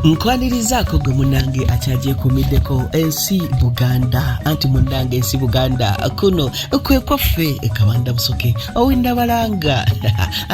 nkwanirizaako gwe munange akyagyekumideko ensi buganda anti munange ensi buganda kuno kwekwaffe ekabanda busoke owindabalanga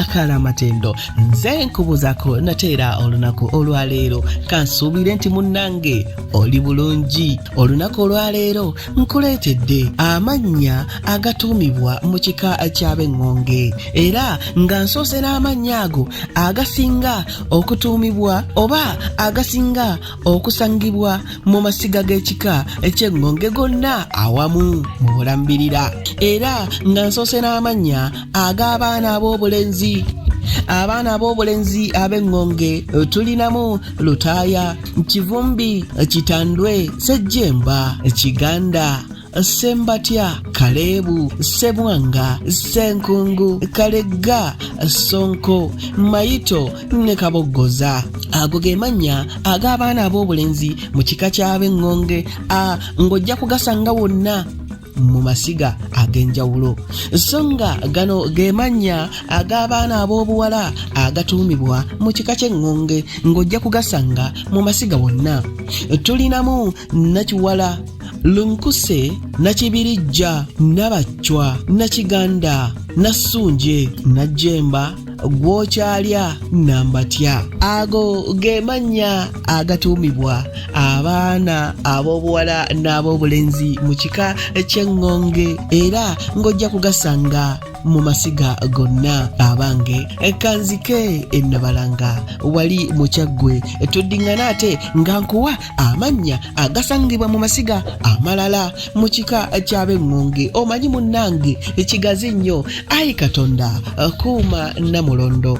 akaala amatendo nze nkubuzako nateera olunaku olwaleero kansuubire nti munange oli bulungi olunaku olwaleero nkuleetedde amannya agatuumibwa mu kika ky'ab'eŋŋonge era nga nsoose n'amannya ago agasinga okutuumibwa oba agasinga okusangibwa mu masiga g'ekika eky'eŋŋonge gonna awamu mu bulambirira era nga nsoose n'amannya ag'abaana ab'obulenzi abaana ab'obulenzi ab'eŋŋonge tulinamu lutaaya kivumbi kitandwe sejjemba kiganda Ssembatya, Kaleebu, Ssebwanga, Ssenkungu, Kalegga, Ssonko, Mayito ne Kaboggoza. Ago ge mannya ag'abaana ab'obulenzi mu kika ky'ab'eŋŋonge a ng'ojja kugasanga wonna mu masiga ag'enjawulo so nga gano ge mannya ag'abaana ab'obuwala agatuumibwa mu kika ky'eŋŋonge ng'ojja kugasanga mu masiga wonna tulinamu nakiwala lunkuse nakibirijja nabacwa nakiganda nasunje najjemba gwokyalya nambatya ago ge mannya agatuumibwa abaana ab'obuwala n'ab'obulenzi mu kika ky'eŋŋonge era ng'ojja kugasanga mu masiga gonna abange kanzike ennabalanga wali mukyaggwe tuddiŋŋana ate nga nkuwa amannya agasangibwa mu masiga amalala mu kika ky'ab'eŋŋonge omanyi munnange ekigazi nnyo ayi katonda kuuma namulondo